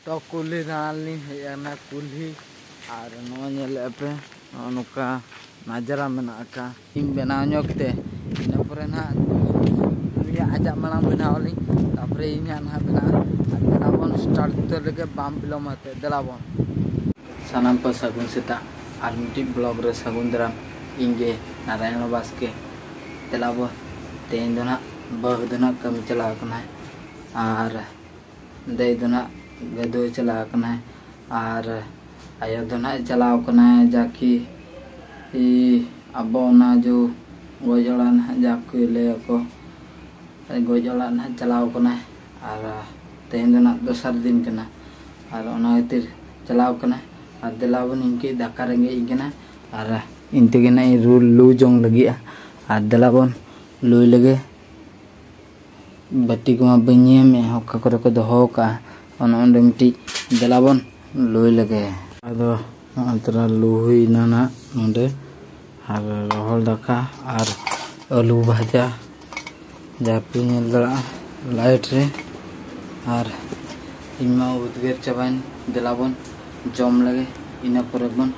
ᱛᱚ ᱠᱩᱞᱦᱤ ᱫᱟᱬᱟᱱ ᱞᱤᱧ ᱦᱮᱡ ᱟᱠᱟᱱᱟ ᱠᱩᱞᱦᱤ ᱟᱨ ᱱᱚᱣᱟ ᱧᱮᱞᱮᱫᱼᱟ ᱯᱮ ᱱᱚᱜᱼᱚ ᱱᱚᱝᱠᱟ ᱱᱟᱡᱟᱨᱟ ᱢᱮᱱᱟᱜ ᱟᱠᱟᱫᱼᱟ ᱤᱧ ᱵᱮᱱᱟᱣ ᱧᱚᱜ ᱛᱮ ᱤᱱᱟᱹ ᱯᱚᱨᱮ ᱱᱟᱦᱟᱜ ᱩᱱᱤᱭᱟᱜ ᱟᱡᱟᱜ ᱢᱟᱲᱟᱝ ᱵᱮᱱᱟᱣ ᱟᱹᱞᱤᱧ ᱛᱟᱨᱯᱚᱨᱮ ᱤᱧᱟᱜ ᱱᱟᱦᱟᱜ ᱵᱮᱱᱟᱜᱼᱟ ᱟᱨ ᱫᱮᱞᱟ ᱵᱚᱱ ᱥᱴᱟᱨᱴ ᱩᱛᱟᱹᱨ ᱞᱮᱜᱮ ᱵᱟᱢ ᱵᱤᱞᱚᱢ ᱟᱛᱮ ᱫᱮᱞᱟ ᱵᱚᱱ ᱥᱟᱱᱟᱢ ᱠᱚ ᱥᱟᱹᱜᱩᱱ ᱥᱮᱛᱟᱜ ᱟᱨ ᱢᱤᱫᱴᱤᱡ ᱵᱞᱚᱜ ᱨᱮ ᱥᱟᱹᱜᱩᱱ ᱫᱟᱨᱟᱢ ᱤᱧ ᱜᱮ ᱱᱟᱨᱟᱭᱚᱱ ᱵᱟᱥᱠᱮ ᱫᱮᱞᱟ ᱵᱚᱱ ᱛᱮᱦᱮᱧ ᱫᱚ ᱱᱟᱦᱟᱜ ᱵᱟᱹᱦᱩ ᱫᱚ ᱱᱟᱦᱟᱜ ᱠᱟᱹᱢᱤ ᱪᱟᱞᱟᱣ ᱟᱠᱟᱱᱟᱭ ᱟᱨ ᱫᱟᱹᱭ ᱫᱚ ᱱᱟᱜ ᱜᱟᱹᱫᱩᱭ ᱪᱟᱞᱟᱣ ᱟᱠᱟᱱᱟᱭ ᱟᱨ ᱟᱭᱳ ᱫᱚ ᱱᱟᱜ ᱪᱟᱞᱟᱣ ᱟᱠᱟᱱᱟᱭ ᱡᱟᱠᱤ ᱟᱵᱚ ᱚᱱᱟ ᱡᱚ ᱜᱚᱡ ᱚᱲᱟᱜ ᱱᱟᱜ ᱡᱟᱠᱤ ᱞᱟᱹᱭᱟᱠᱚ ᱜᱚᱡ ᱚᱲᱟᱜ ᱱᱟᱜ ᱪᱟᱞᱟᱣ ᱟᱠᱟᱱᱟᱭ ᱟᱨ ᱛᱮᱦᱮᱧ ᱫᱚ ᱱᱟᱜ ᱫᱚᱥᱟᱨ ᱫᱤᱱ ᱠᱟᱱᱟ ᱟᱨ ᱚᱱᱟ ᱠᱷᱟᱹᱛᱤᱨ ᱪᱟᱞᱟᱣ ᱟᱠᱟᱱᱟᱭ ᱟᱨ ᱫᱮᱞᱟ ᱵᱚᱱ ᱤᱧ ᱠᱟᱹᱡ ᱫᱟᱠᱟ ᱨᱮᱸᱜᱮᱡ ᱤᱧ ᱠᱟᱱᱟ ᱟᱨ ᱤᱧ ᱛᱮᱜᱮ ᱱᱟᱜ ᱤᱧ ᱞᱩ ᱡᱚᱝ ᱞᱟᱹᱜᱤᱫᱼᱟ ᱟᱨ ᱫᱮᱞᱟ ᱵᱚᱱ ᱞᱩᱭ ᱞᱮᱜᱮ ᱵᱟᱹᱴᱤ ᱠᱚᱢᱟ ᱵᱟᱹᱧ ᱧᱮᱞ ᱢᱮ ᱚᱠᱟ ᱠᱚᱨᱮ ᱠᱚ ᱫᱚᱦᱚ ᱠᱟᱜᱼᱟ ᱚᱱᱟ ᱚᱸᱰᱮ ᱢᱤᱫᱴᱤᱡ ᱫᱮᱞᱟ ᱵᱚᱱ ᱞᱩᱭ ᱞᱮᱜᱮ ᱟᱫᱚ ᱱᱚᱜᱼᱚᱭ ᱛᱚᱨᱟ ᱞᱩ ᱦᱩᱭᱱᱟ ᱱᱟᱜ ᱱᱚᱸᱰᱮ ᱟᱨ ᱨᱚᱦᱚᱲ ᱫᱟᱠᱟ ᱟᱨ ᱟᱹᱞᱩ ᱵᱷᱟᱡᱟ ᱡᱟᱯᱤ ᱧᱮᱞ ᱫᱟᱲᱮᱭᱟᱜᱼᱟ ᱞᱟᱭᱤᱴ ᱨᱮ ᱟᱨ ᱤᱧ ᱢᱟ ᱩᱫᱽᱜᱟᱹᱨ ᱪᱟᱵᱟᱭᱮᱱ ᱫᱮᱞᱟ ᱵᱚᱱ ᱡᱚᱢ ᱞᱮᱜᱮ ᱤᱱᱟᱹ ᱯᱚᱨᱮ ᱵᱚᱱ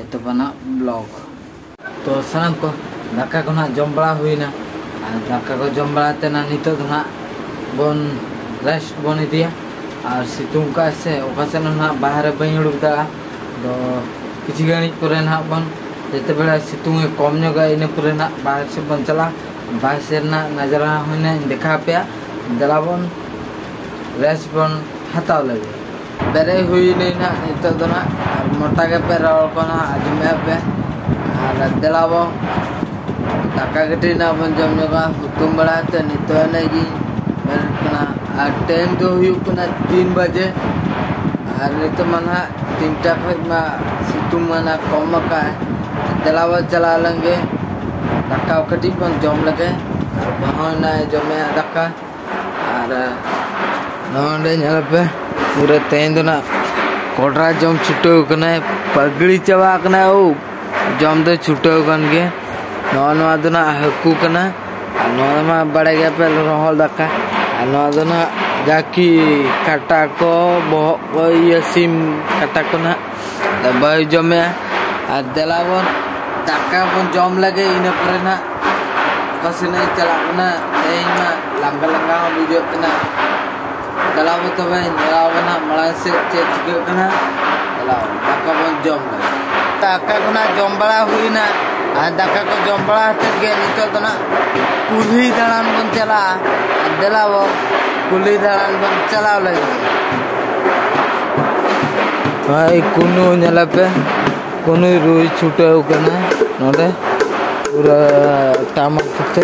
ᱮᱛᱚᱦᱚᱵᱟ ᱱᱟᱜ ᱵᱞᱚᱜᱽ ᱛᱚ ᱥᱟᱱᱟᱢ ᱠᱚ ᱫᱟᱠᱟ ᱠᱚ ᱱᱟᱦᱟᱜ ᱡᱚᱢ ᱵᱟᱲᱟ ᱦᱩᱭᱱᱟ ᱟᱨ ᱫᱟᱠᱟ ᱠᱚ ᱡᱚᱢ ᱵᱟᱲᱟ ᱛᱮ ᱱᱟᱦᱟᱜ ᱱᱤᱛᱚᱜ ᱫᱚ ᱱᱟᱦᱟᱜ ᱵᱚᱱ ᱨᱮᱥᱴ ᱵᱚᱱ ᱤᱫᱤᱭᱟ ᱟᱨ ᱥᱤᱛᱩᱝ ᱠᱟᱜᱼᱟᱭ ᱥᱮ ᱚᱠᱟ ᱥᱮᱫ ᱦᱚᱸ ᱱᱟᱦᱟᱜ ᱵᱟᱦᱨᱮ ᱵᱟᱹᱧ ᱩᱰᱩᱠ ᱫᱟᱲᱮᱭᱟᱜᱼᱟ ᱟᱫᱚ ᱠᱤᱪᱷᱩ ᱜᱷᱟᱹᱲᱤᱡ ᱯᱚᱨᱮ ᱱᱟᱦᱟᱜ ᱵᱚᱱ ᱡᱮᱛᱮ ᱵᱮᱲᱟ ᱥᱤᱛᱩᱝ ᱮ ᱠᱚᱢ ᱧᱚᱜᱟ ᱤᱱᱟᱹ ᱯᱚᱨᱮ ᱱᱟᱦᱟᱜ ᱵᱟᱦᱨᱮ ᱥᱮᱫ ᱵᱚᱱ ᱪᱟᱞᱟᱜᱼᱟ ᱵᱟᱦᱨᱮ ᱥᱮᱫ ᱨᱮᱱᱟᱜ ᱱᱟᱡᱟᱨᱟ ᱦᱚᱸ ᱱᱟᱦᱟᱜ ᱤᱧ ᱫᱮᱠᱷᱟᱣ ᱟᱯᱮᱭᱟ ᱫᱮᱞᱟ ᱵᱚᱱ ᱨᱮᱥᱴ ᱵᱚᱱ ᱦᱟᱛᱟᱣ ᱞᱮᱜᱮ ᱵᱮᱨᱮᱫ ᱦᱩᱭᱱᱟᱹᱧ ᱱᱟᱜ ᱱᱤᱛᱚᱜ ᱫᱚ ᱱᱟᱜ ᱟᱨ ᱢᱚᱴᱟ ᱜᱮᱯᱮ ᱨᱚᱲ ᱠᱚ ᱱᱟᱜ ᱟᱸᱡᱚᱢᱮᱫᱼᱟ ᱯᱮ ᱟᱨ ᱫᱮᱞᱟ ᱵᱚ ᱫᱟᱠᱟ ᱠᱟᱹᱴᱤᱡ ᱱᱟᱜ ᱵᱚᱱ ᱡᱚᱢ ᱧᱚᱜᱟ ᱦᱩᱛᱩᱢ ᱵᱟᱲᱟ ᱠᱟᱛᱮᱫ ᱱᱤᱛᱚᱜ ᱮᱱᱮᱡ ᱜᱤᱧ ᱵᱮᱨᱮᱫ ᱠᱟᱱᱟ ᱟᱨ ᱴᱟᱭᱤᱢ ᱫᱚ ᱦᱩᱭᱩᱜ ᱠᱟᱱᱟ ᱛᱤᱱ ᱵᱟᱡᱮ ᱟᱨ ᱱᱤᱛᱚᱜ ᱢᱟ ᱱᱟᱜ ᱛᱤᱱᱴᱟ ᱠᱷᱚᱡ ᱢᱟ ᱥᱤᱛᱩᱝ ᱢᱟ ᱱᱟᱜ ᱠᱚᱢ ᱟᱠᱟᱫ ᱫᱮᱞᱟ ᱵᱚᱱ ᱪᱟᱞᱟᱣ ᱞᱮᱱᱜᱮ ᱫᱟᱠᱟ ᱠᱟᱹᱴᱤᱡ ᱵᱚᱱ ᱡᱚᱢ ᱞᱮᱜᱮ ᱵᱟᱹᱦᱩ ᱱᱟᱜ ᱮ ᱡᱚᱢᱮᱫᱼᱟ ᱫᱟᱠᱟ ᱟᱨ ᱱᱚᱰᱮ ᱧᱮᱞ ᱯᱮ ᱯᱩᱨᱟᱹ ᱛᱮᱦᱮᱧ ᱫᱚ ᱱᱟᱜ ᱠᱚᱰᱨᱟ ᱡᱚᱢ ᱪᱷᱩᱴᱟᱹᱣ ᱠᱟᱱᱟᱭ ᱯᱟᱜᱽᱲᱤ ᱪᱟᱵᱟ ᱠᱟᱱᱟᱭ ᱳ ᱡᱚᱢ ᱫᱚ ᱪᱷᱩᱴᱟᱹᱣ ᱠᱟᱱ ᱜᱮ ᱱᱚᱜᱼᱚ ᱱᱚᱣᱟ ᱫᱚ ᱱᱟᱜ ᱦᱟᱹᱠᱩ ᱠᱟᱱᱟ ᱟᱨ ᱱᱚᱣᱟ ᱢᱟ ᱵᱟᱲᱟᱭ ᱜᱮᱭᱟ ᱯᱮ ᱨᱚᱦᱚᱲ ᱫᱟᱠᱟ ᱟᱨ ᱱᱚᱣᱟ ᱫᱚ ᱱᱟᱜ ᱡᱟᱠᱤ ᱠᱟᱴᱟ ᱠᱚ ᱵᱚᱦᱚᱜ ᱠᱚ ᱤᱭᱟᱹ ᱥᱤᱢ ᱠᱟᱴᱟ ᱠᱚ ᱱᱟᱜ ᱫᱟᱵᱟᱭ ᱡᱚᱢᱮ ᱟᱨ ᱫᱮᱞᱟ ᱵᱚᱱ ᱫᱟᱠᱟ ᱵᱚᱱ ᱡᱚᱢ ᱞᱮᱜᱮ ᱤᱱᱟᱹ ᱯᱚᱨᱮ ᱱᱟᱜ ᱚᱠᱟ ᱥᱮᱱ ᱤᱧ ᱪᱟᱞᱟᱜ ᱠᱟᱱᱟ ᱛᱮᱦᱮᱧ ᱢᱟ ᱞᱟᱸᱜᱟ ᱞᱟᱸᱜᱟ ᱦᱚᱸ ᱵᱩᱡᱷᱟᱹᱜ ᱠᱟᱱᱟ ᱫᱮᱞᱟ ᱵᱚᱱ ᱛᱚᱵᱮ ᱧᱮᱞ ᱟᱵᱚᱱ ᱦᱟᱸᱜ ᱢᱟᱲᱟᱝ ᱥᱮᱫ ᱪᱮᱫ ᱪᱤᱠᱟᱹᱜ ᱠᱟᱱᱟ ᱫᱮᱞᱟ ᱫᱟᱠᱟ ᱵᱚᱱ ᱡᱚᱢ ᱞᱮᱜᱮ ᱫᱟᱠᱟ ᱠᱚ ᱱᱟᱜ ᱡᱚᱢ ᱵᱟᱲᱟ ᱦᱩᱭᱱᱟ ᱟᱨ ᱫᱟᱠᱟ ᱠᱚ ᱡᱚᱢ ᱵᱟᱲᱟ ᱠᱟᱛᱮᱫ ᱜᱮ ᱱᱤᱛᱚᱜ ᱫᱚ ᱱᱟᱜ ᱠᱩᱞᱦᱤ ᱫᱟᱬᱟᱱ ᱵᱚᱱ ᱪᱟᱞᱟᱜᱼᱟ ᱫᱮᱞᱟ ᱵᱚᱱ ᱠᱩᱞᱦᱤ ᱫᱟᱬᱟᱱ ᱵᱚᱱ ᱪᱟᱞᱟᱣ ᱞᱮᱱ ᱜᱮ ᱦᱳᱭ ᱠᱩᱱᱩ ᱧᱮᱞᱮ ᱯᱮ ᱠᱩᱱᱩᱭ ᱨᱩᱭ ᱪᱷᱩᱴᱟᱹᱣ ᱠᱟᱱᱟ ᱱᱚᱰᱮ ᱯᱩᱨᱟᱹ ᱴᱟᱢᱟᱠ ᱠᱟᱛᱮ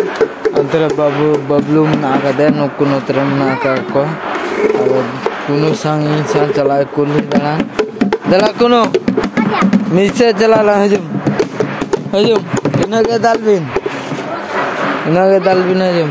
ᱚᱱᱛᱮ ᱨᱮ ᱵᱟᱵᱞᱩ ᱵᱟᱵᱞᱩ ᱢᱮᱱᱟᱜ ᱟᱠᱟᱫᱮᱭᱟ ᱱᱩᱠᱩ ᱱᱚᱛᱮ ᱨᱮ ᱢᱮᱱᱟᱜ ᱟᱠᱟᱫ ᱠᱚᱣᱟ ᱟᱫᱚ ᱠᱩᱱᱩ ᱥᱟᱝ ᱤᱧ ᱥᱟᱝ ᱪᱟᱞᱟᱜ ᱠᱩᱞᱦᱤ ᱫᱟᱬᱟ ᱫᱮᱞᱟ ᱠᱩᱱᱩ ᱢᱤᱫ ᱥᱮᱫ ᱪᱟᱞᱟᱜ ᱞᱟᱝ ᱦᱤᱡᱩᱜ ᱦᱤᱡᱩᱜ ᱤᱱᱟᱹᱜᱮ ᱫᱟᱞ ᱵᱤᱱ ᱤᱱᱟᱹᱜᱮ ᱫᱟᱞ ᱵᱤᱱ ᱦᱤᱡᱩᱜ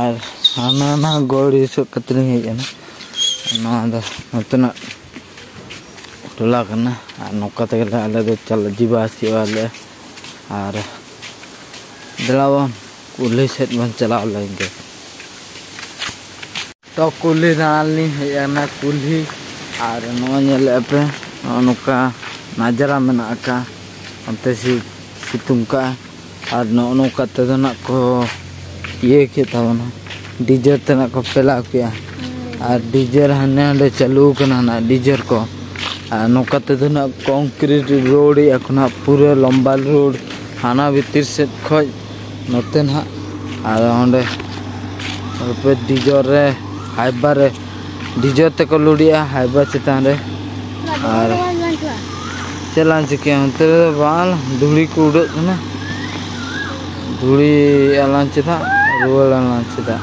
ᱟᱨ ᱦᱟᱱᱟ ᱱᱟ ᱜᱚᱲ ᱦᱤᱥᱟᱹᱵ ᱠᱟᱛᱮ ᱞᱤᱧ ᱦᱮᱡ ᱮᱱᱟ ᱱᱚᱣᱟ ᱫᱚ ᱱᱚᱛᱮᱱᱟᱜ ᱴᱚᱞᱟ ᱠᱟᱱᱟ ᱟᱨ ᱱᱚᱝᱠᱟ ᱛᱮᱜᱮ ᱟᱞᱮ ᱫᱚ ᱪᱟᱞᱟᱜ ᱡᱤᱵᱟ ᱦᱤᱡᱩᱜᱼᱟ ᱞᱮ ᱟᱨ ᱫᱮᱞᱟ ᱵᱚᱱ ᱠᱩᱞᱦᱤ ᱥᱮᱫ ᱵᱚᱱ ᱪᱟᱞᱟᱣ ᱞᱮᱱ ᱜᱮ ᱛᱚ ᱠᱩᱞᱦᱤ ᱫᱟᱬᱟᱱ ᱞᱤᱧ ᱦᱮᱡ ᱟᱠᱟᱱᱟ ᱠᱩᱞᱦᱤ ᱟᱨ ᱱᱚᱣᱟ ᱧᱮᱞᱮᱫᱼᱟ ᱯᱮ ᱱᱚᱜᱼᱚ ᱱᱚᱝᱠᱟ ᱱᱟᱡᱽᱨᱟ ᱢᱮᱱᱟᱜ ᱟᱠᱟᱫᱼᱟ ᱚᱱᱛᱮ ᱥᱤᱛᱩᱝ ᱟᱠᱟᱫᱼᱟᱭ ᱟᱨ ᱱᱚᱜᱼᱚ ᱱᱚᱝᱠᱟ ᱛᱮᱫᱚ ᱱᱟᱦᱟᱜ ᱠᱚ ᱤᱭᱟᱹ ᱠᱮᱫ ᱛᱟᱵᱚᱱᱟ ᱰᱤᱡᱮ ᱛᱮ ᱱᱟᱦᱟᱜ ᱠᱚ ᱯᱷᱮᱞᱟᱣ ᱠᱮᱫᱼᱟ ᱟᱨ ᱰᱤᱡᱮ ᱦᱟᱸᱰᱮ ᱱᱟᱸᱰᱮ ᱪᱟᱹᱞᱩ ᱟᱠᱟᱱᱟ ᱱᱟᱦᱟᱜ ᱰᱤᱡᱮ ᱠᱚ ᱟᱨ ᱱᱚᱝᱠᱟ ᱛᱮᱫᱚ ᱱᱟᱦᱟᱜ ᱠᱚᱝᱠᱨᱤᱴ ᱨᱳᱰ ᱮᱫᱼᱟ ᱠᱚ ᱱᱟᱦᱟᱜ ᱯᱩᱨᱟᱹ ᱞᱚᱢᱵᱟ ᱨᱳᱰ ᱦᱟᱱᱟ ᱵᱷᱤᱛᱤᱨ ᱥᱮᱫ ᱠᱷᱚᱱ ᱱᱚᱛᱮ ᱱᱟᱦᱟᱜ ᱟᱫᱚ ᱚᱸᱰᱮ ᱨᱩᱯᱟᱹ ᱰᱤᱡᱚᱨ ᱨᱮ ᱦᱟᱭᱵᱟᱨ ᱨᱮ ᱰᱤᱡᱚᱨ ᱛᱮᱠᱚ ᱞᱩᱰᱤᱜᱼᱟ ᱦᱟᱭᱵᱟᱨ ᱪᱮᱛᱟᱱ ᱨᱮ ᱟᱨ ᱪᱮᱫ ᱞᱟᱝ ᱪᱤᱠᱟᱹᱭᱟ ᱚᱱᱛᱮ ᱨᱮᱫᱚ ᱵᱟᱝ ᱫᱷᱩᱲᱤ ᱠᱚ ᱩᱰᱟᱹᱜ ᱠᱟᱱᱟ ᱫᱷᱩᱲᱤ ᱟᱞᱟᱝ ᱪᱮᱫᱟᱜ ᱨᱩᱣᱟᱹᱲ ᱟᱞᱟᱝ ᱪᱮᱫᱟᱜ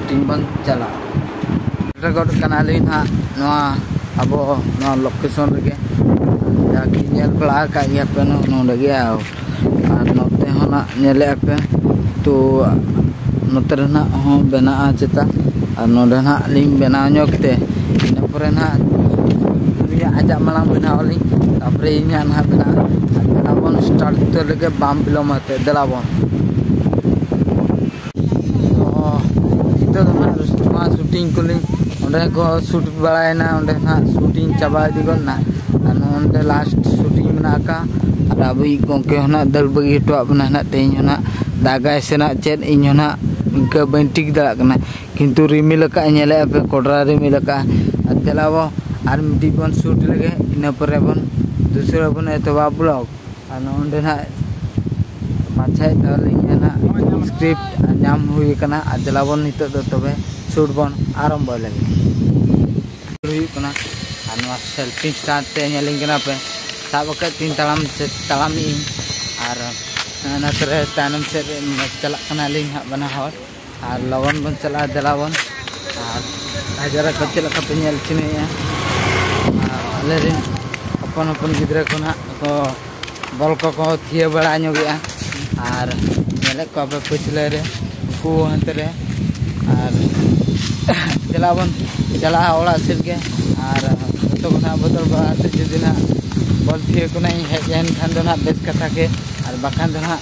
ᱴᱤᱢ ᱵᱟᱝ ᱪᱟᱞᱟᱜ ᱨᱮᱠᱚᱨᱰ ᱠᱟᱱᱟᱞᱤᱧ ᱦᱟᱸᱜ ᱱᱚᱣᱟ ᱟᱵᱚ ᱱᱚᱣᱟ ᱞᱳᱠᱮᱥᱚᱱ ᱨᱮᱜᱮ ᱡᱟᱜᱮ ᱧᱮᱞ ᱵᱟᱲᱟ ᱟᱠᱟᱫ ᱜᱮᱭᱟ ᱯᱮ ᱱᱚᱰᱮ ᱜᱮ ᱟᱨ ᱱᱚᱛᱮ ᱦᱚᱸ ᱱᱟᱜ ᱧᱮᱞᱮᱫᱼᱟ ᱯᱮ ᱛᱚ ᱱᱚᱛᱮ ᱨᱮᱱᱟᱜ ᱦᱚᱸ ᱵᱮᱱᱟᱜᱼᱟ ᱪᱮᱛᱟ ᱟᱨ ᱱᱚᱰᱮ ᱱᱟᱜ ᱞᱤᱧ ᱵᱮᱱᱟᱣ ᱧᱚᱜ ᱛᱮ ᱤᱱᱟᱹ ᱯᱚᱨᱮ ᱱᱟᱜ ᱩᱱᱤᱭᱟᱜ ᱟᱡᱟᱜ ᱢᱟᱲᱟᱝ ᱵᱮᱱᱟᱣ ᱟᱹᱞᱤᱧ ᱛᱟᱯᱚᱨᱮ ᱤᱧᱟᱹᱜ ᱱᱟᱜ ᱵᱮᱱᱟᱜᱼᱟ ᱟᱨ ᱫᱮᱞᱟ ᱵᱚᱱ ᱥᱴᱟᱨᱴ ᱩᱛᱟᱹᱨ ᱞᱮᱜᱮ ᱵᱟᱢ ᱵᱤᱞᱚᱢ ᱟᱛᱮ ᱫᱮᱞᱟ ᱵᱚᱱ ᱱᱤᱛᱚᱜ ᱫᱚ ᱦᱟᱸᱜ ᱱᱚᱣᱟ ᱥᱩᱴᱤᱝ ᱠᱚᱞᱤᱧ ᱚᱸᱰᱮ ᱠᱚ ᱥᱩᱴ ᱵᱟᱲᱟᱭᱮᱱᱟ ᱚᱸᱰᱮ ᱦᱟᱸᱜ ᱥᱩᱴᱤᱝ ᱪᱟᱵᱟ ᱤᱫᱤ ᱜᱚᱫ ᱮᱱᱟ ᱟᱨ ᱱᱚᱜᱼᱚᱱᱛᱮ ᱞᱟᱥᱴ ᱥᱩᱴᱤᱝ ᱢᱮᱱᱟᱜ ᱟᱠᱟᱫ ᱟᱨ ᱟᱵᱚᱭᱤᱡ ᱜᱚᱢᱠᱮ ᱦᱚᱸ ᱱᱟᱦᱟᱜ ᱫᱟᱹᱲ ᱵᱟᱹᱜᱤ ᱦᱚᱴᱚᱣᱟᱜ ᱵᱚᱱᱟ ᱱᱟᱦᱟᱜ ᱛᱮᱦᱮᱧ ᱦᱚᱸ ᱱᱟᱦᱟᱜ ᱫᱟᱜᱟᱭ ᱥᱮ ᱱᱟᱦᱟᱜ ᱪᱮᱫ ᱤᱧ ᱦᱚᱸ ᱱᱟᱦᱟᱜ ᱤᱱᱠᱟᱹ ᱵᱟᱹᱧ ᱴᱷᱤᱠ ᱫᱟᱲᱮᱭᱟᱜ ᱠᱟᱱᱟ ᱠᱤᱱᱛᱩ ᱨᱤᱢᱤᱞ ᱟᱠᱟᱫ ᱟᱭ ᱧᱮᱞᱮᱫᱼᱟ ᱯᱮ ᱠᱚᱰᱨᱟ ᱨᱤᱢᱤᱞ ᱟᱠᱟᱫ ᱟᱭ ᱟᱨ ᱫᱮᱞᱟᱵᱚ ᱟᱨ ᱢᱤᱫᱴᱤᱡ ᱵᱚᱱ ᱥᱩᱴ ᱞᱮᱜᱮ ᱤᱱᱟᱹ ᱯᱚᱨᱮ ᱵᱚᱱ ᱫᱩᱥᱨᱟᱹ ᱵᱚᱱ ᱮᱛᱚᱦᱚᱵᱟ ᱵᱞᱚᱜᱽ ᱟᱨ ᱱᱚᱸᱰᱮ ᱱᱟᱜ ᱯᱟᱪᱷᱮ ᱟᱹᱞᱤᱧ ᱱᱟᱜ ᱥᱠᱨᱤᱯᱴ ᱧᱟᱢ ᱦᱩᱭ ᱟᱠᱟᱱᱟ ᱟᱨ ᱫᱮᱞᱟᱵᱚᱱ ᱱᱤᱛᱚᱜ ᱫᱚ ᱛᱚᱵᱮ ᱥᱩᱴ ᱵᱚᱱ ᱟᱨᱟᱢᱵᱚᱭ ᱞᱟᱹᱜᱤᱫ ᱦᱩᱭᱩᱜ ᱠᱟᱱᱟ ᱟᱨ ᱱᱚᱣᱟ ᱥᱮᱞᱯᱷᱤ ᱥᱴᱟᱨ ᱛᱮ ᱧᱮᱞᱤᱧ ᱠᱟᱱᱟ ᱯᱮ ᱥᱟᱵ ᱟᱠᱟᱫ ᱛᱤᱧ ᱛᱟᱲᱟᱢ ᱛᱟᱲᱟᱢᱮᱜ ᱟᱹᱧ ᱟᱨ ᱚᱱᱟ ᱛᱮᱨᱮ ᱛᱟᱭᱱᱚᱢ ᱥᱮᱫ ᱨᱮ ᱪᱟᱞᱟᱜ ᱠᱟᱱᱟᱞᱤᱧ ᱦᱟᱸᱜ ᱵᱟᱱᱟ ᱦᱚᱲ ᱟᱨ ᱞᱚᱜᱚᱱ ᱵᱚᱱ ᱪᱟᱞᱟᱜᱼᱟ ᱫᱮᱞᱟ ᱵᱚᱱ ᱟᱨ ᱦᱟᱡᱟᱨᱟ ᱠᱚ ᱪᱮᱫ ᱞᱮᱠᱟ ᱯᱮ ᱧᱮᱞ ᱪᱤᱱᱦᱟᱹᱭᱮᱫᱼᱟ ᱟᱨ ᱟᱞᱮ ᱨᱮᱱ ᱦᱚᱯᱚᱱ ᱦᱚᱯᱚᱱ ᱜᱤᱫᱽᱨᱟᱹ ᱠᱚ ᱱᱟᱦᱟᱜ ᱠᱚ ᱵᱚᱞ ᱠᱚᱠᱚ ᱛᱷᱤᱭᱟᱹ ᱵᱟᱲᱟ ᱧᱚᱜᱮᱜᱼᱟ ᱟᱨ ᱧᱮᱞᱮᱫ ᱠᱚᱣᱟ ᱯᱮ ᱯᱟᱹᱪᱷᱞᱟᱹ ᱨᱮ ᱩᱱᱠᱩ ᱦᱟᱱᱛᱮ ᱨᱮ ᱟᱨ ᱫᱮᱞᱟ ᱵᱚᱱ ᱪᱟᱞᱟᱜᱼᱟ ᱚᱲᱟᱜ ᱥᱮᱫ ᱜᱮ ᱟᱨ ᱡᱚᱛᱚ ᱠᱚ ᱱᱟᱦᱟᱜ ᱵᱚᱫᱚᱞ ᱵᱟᱲᱟ ᱠᱟᱛᱮᱫ ᱡᱩᱫᱤ ᱱᱟᱦᱟᱜ ᱵᱚᱞ ᱛᱷᱤᱭᱟᱹ ᱠᱚ ᱱᱟᱦᱟᱜ ᱤᱧ ᱦᱮᱡ ᱞᱮᱱᱠᱷᱟᱱ ᱫᱚ ᱱᱟᱦᱟᱜ ᱵᱮᱥ ᱠᱟᱛᱷᱟ ᱜᱮ ᱟᱨ ᱵᱟᱠᱷᱟᱱ ᱫᱚ ᱱᱟᱦᱟᱜ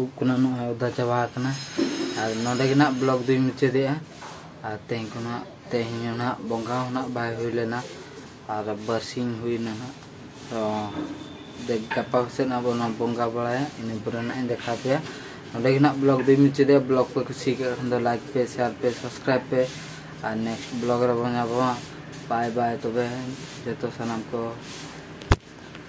ᱩᱵ ᱠᱚ ᱱᱟᱜ ᱱᱚᱜᱼᱚᱭ ᱚᱫᱟ ᱪᱟᱵᱟ ᱟᱠᱟᱱᱟ ᱟᱨ ᱱᱚᱰᱮ ᱜᱮ ᱱᱟᱜ ᱵᱞᱚᱜ ᱫᱚᱧ ᱢᱩᱪᱟᱹᱫᱮᱜᱼᱟ ᱟᱨ ᱛᱮᱦᱮᱧ ᱠᱚ ᱱᱟᱜ ᱛᱮᱦᱮᱧ ᱦᱚᱸ ᱱᱟᱜ ᱵᱚᱸᱜᱟ ᱦᱚᱸ ᱱᱟᱜ ᱵᱟᱭ ᱦᱩᱭ ᱞᱮᱱᱟ ᱟᱨ ᱵᱟᱨᱥᱤᱧ ᱦᱩᱭᱱᱟ ᱱᱟᱜ ᱛᱚ ᱫᱮᱠ ᱜᱟᱯᱟ ᱥᱮᱫ ᱱᱟᱜ ᱵᱚᱱ ᱵᱚᱸᱜᱟ ᱵᱟᱲᱟᱭᱟ ᱤᱱᱟᱹ ᱯᱚᱨᱮ ᱱᱟᱜ ᱤᱧ ᱫᱮᱠᱷᱟᱣ ᱯᱮᱭᱟ ᱱᱚᱰᱮ ᱜᱮ ᱱᱟᱜ ᱵᱞᱚᱜ ᱫᱚᱧ ᱢᱩᱪᱟᱹᱫᱮᱜᱼᱟ ᱵᱞᱚᱜ ᱯᱮ ᱠᱩᱥᱤ ᱠᱟᱜ ᱠᱷᱟᱱ ᱫᱚ ᱞᱟᱭᱤᱠ ᱯᱮ ᱥᱮᱭᱟᱨ ᱯᱮ ᱥᱟᱵᱥᱠᱨᱟᱭᱤᱵ ᱯᱮ ᱟᱨ ᱱᱮᱠᱥᱴ ᱵᱞᱚᱜ ᱨᱮᱵᱚᱱ ᱧᱟᱯᱟᱢᱟ ᱵᱟᱭ ᱵᱟᱭ ᱛᱚᱵᱮ ᱡᱚᱛᱚ ᱥᱟᱱᱟᱢ ᱠᱚ